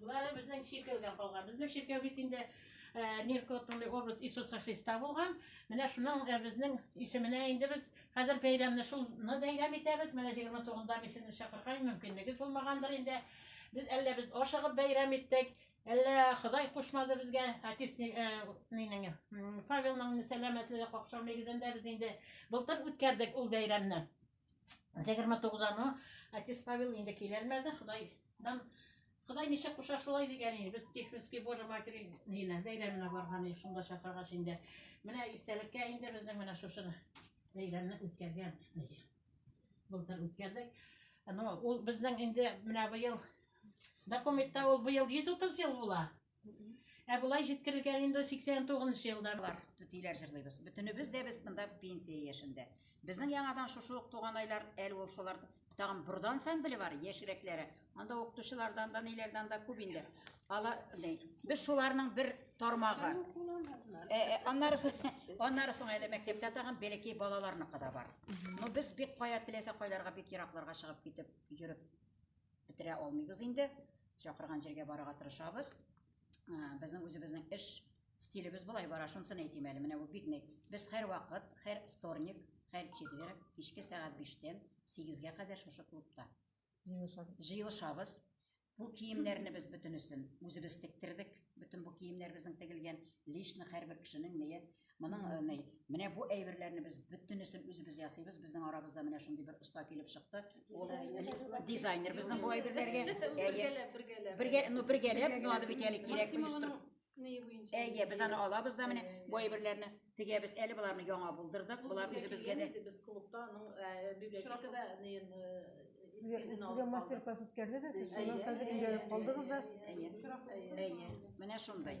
Болары безнең чиркәүдә калган. Безнең чиркәү бит инде ниркотный образ Иисуса Христа булган. Менә шуның безнең исеменә инде без хәзер бәйрәмне шуны бәйрәм итәбез. Менә 29-да мин сезне чакырган, мөмкинлегез булмагандыр инде. Без әллә без ашыгып бәйрәм иттек, әллә Ходай кушмады безгә. Артист нинең Павелның сәламәтлеге какшау нигезендә без инде былтыр үткәрдек ул бәйрәмне. Җегерме тугыз аны отец Павел инде килермәде, Худайдан Ходай ничә куша шулай дигән иде. Без Тихвинский Божий Матери нилә бәйрәменә барган идек, шунда чакыргач инде. Менә истәлеккә инде безнең менә шушы бәйрәмне үткәргән иде. Былтыр үткәрдек. Но ул безнең инде менә быел документта ул быел 130 ел була. Ә болай җиткерелгән инде 89 нчы елдарлар түтиләр җырлыйбыз. Бөтенебез дә без монда пенсия яшендә. Безнең яңадан шушы ук туган айлар әле ул шулар тагын бурда ансамбле бар, яшьрәкләре. Анда укытучылардан да, ниләрдән дә күп инде. Ала, без шуларның бер тармагы. Э, э, аннары аннары соң әле мәктәптә тагын бәләкәй балаларны када бар. Ну без бик кая теләсә кайларга бик еракларга чыгып китеп йөреп бетерә алмыйбыз инде. чакырган җиргә барырга тырышабыз. Безнең үзебезнең эш стилебез болай бара, шунысын әйтим әле. Менә бу бик нык. Без һәрвакыт, һәр вторник, һәр четверг кичке сәгать 5-тән 8-гә кадәр шушы клубта җыелышабыз. Җыелышабыз. Бу киемнәрне без бөтенесен үзебез тектердек. Бөтен бу киемнәр безнең тегелгән. Лично һәрбер кешенең ние Моның э, ни, менә бу әйберләрне без бөтенесен үзебез ясыйбыз. Безнең арабызда менә шундый бер оста килеп чыкты. Ул дизайнер безнең бу әйберләргә. Бергәләп, бергәләп. Бергә, ну бергәләп, ну аны бит әле кирәк оештырып. Әйе, без аны алабыз да менә бу әйберләрне тегәбез. Әле боларны яңа булдырдык. Болар үзебезгә дә. Без клубта аның э, библиотекада Сезгә мастер-класс үткәрдегез, сез шуннан хәзер өйрәнеп калдыгыз да. Әйе. Әйе. Менә шундай.